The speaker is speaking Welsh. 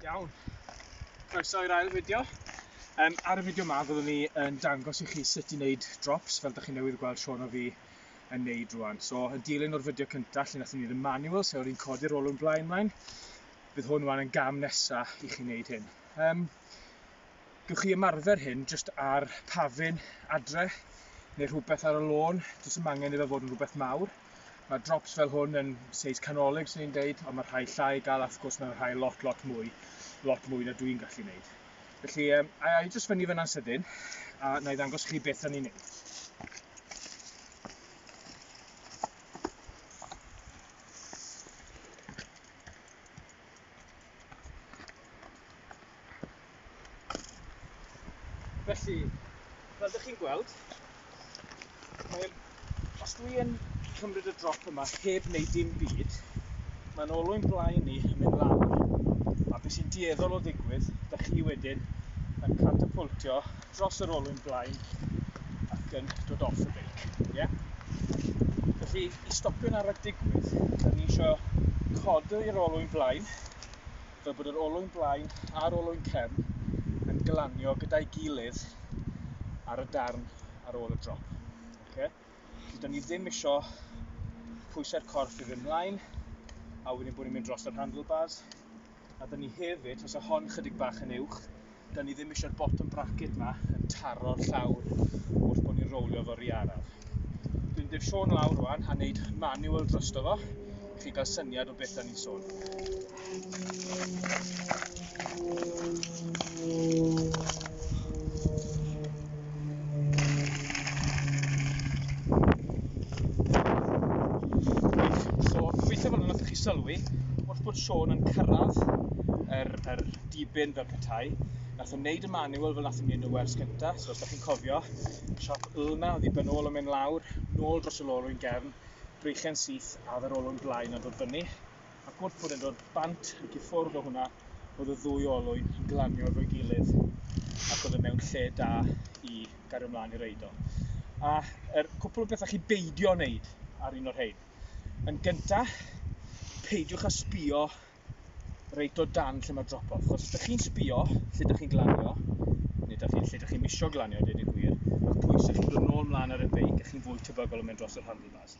Iawn. Croeso i'r ail fideo. Um, ar y fideo yma fyddwn ni yn dangos i chi sut i wneud drops fel da chi newydd gweld Sean o fi yn neud rwan. So, y dilyn o'r fideo cyntaf lle nathon ni ddim manual, sef o'r un codi'r olwyn blaen mlaen, bydd hwn rwan yn gam nesa i chi wneud hyn. Um, Gywch chi ymarfer hyn jyst ar pafin adre neu rhywbeth ar y lôn, jyst yn mangen iddo fod yn rhywbeth mawr. Mae drops fel hwn yn seis canolig sy'n ni'n deud, ond mae rhai llai gael, a wrth gwrs mae rhai lot, lot mwy, lot mwy na dwi'n gallu wneud. Felly, um, a i jyst fyny fyna'n sydyn, a na i ddangos chi beth o'n i'n neud. Felly, fel ydych chi'n gweld, Wel, os dwi yn cymryd y drop yma heb wneud dim byd, mae'n olwyn blaen ni yn mynd lawr. A beth sy'n dueddol o ddigwydd, da chi wedyn yn catapultio dros yr olwyn blaen ac yn dod off y beic. Yeah? Felly, i stopio'n arach digwydd, da ni eisiau codi'r olwyn blaen fel bod yr olwyn blaen a'r olwyn cefn yn glanio gyda'i gilydd ar y darn ar ôl y drop. Okay? Felly, da ni ddim eisiau pwysau'r corff i fynd mlaen, a wedyn bod ni'n mynd dros yr handlebars. A da ni hefyd, os y hon chydig bach yn uwch, Da ni ddim eisiau'r bottom bracket ma yn taro'r llawr wrth bod ni'n rowlio fo rhi araf. Dwi'n def Sean lawr rwan a wneud manual drosto fo i chi gael syniad o beth da ni'n sôn. So, gobeithio fan hwnna chi sylwi, wrth bod Sean yn cyrraedd yr, yr dibyn fel petai. Nath o'n neud y manual fel nath o'n neud y wers cynta, so os da chi'n cofio, siop Ulna, oedd i ben ôl o'n mynd lawr, nôl dros y lolwyn gefn, breichen syth a oedd yr olwyn blaen yn dod fyny. Ac wrth bod yn dod bant ac i ffwrdd o hwnna, oedd y ddwy olwyn yn glanio efo'i gilydd ac oedd yn e mewn lle da i gario mlaen i'r eidol. A yr er cwpl o bethau chi beidio wneud ar un o'r rhain. Yn gyntaf, peidiwch â sbio reit o dan lle mae drop-off. Chos ydych chi'n sbio lle ydych chi'n glanio, neu ydych chi'n lle ydych chi'n misio glanio, dweud y gwir, mae'r pwysau chi'n dod nôl mlaen ar y beic a chi'n fwy tebygol o mynd dros yr handlebars.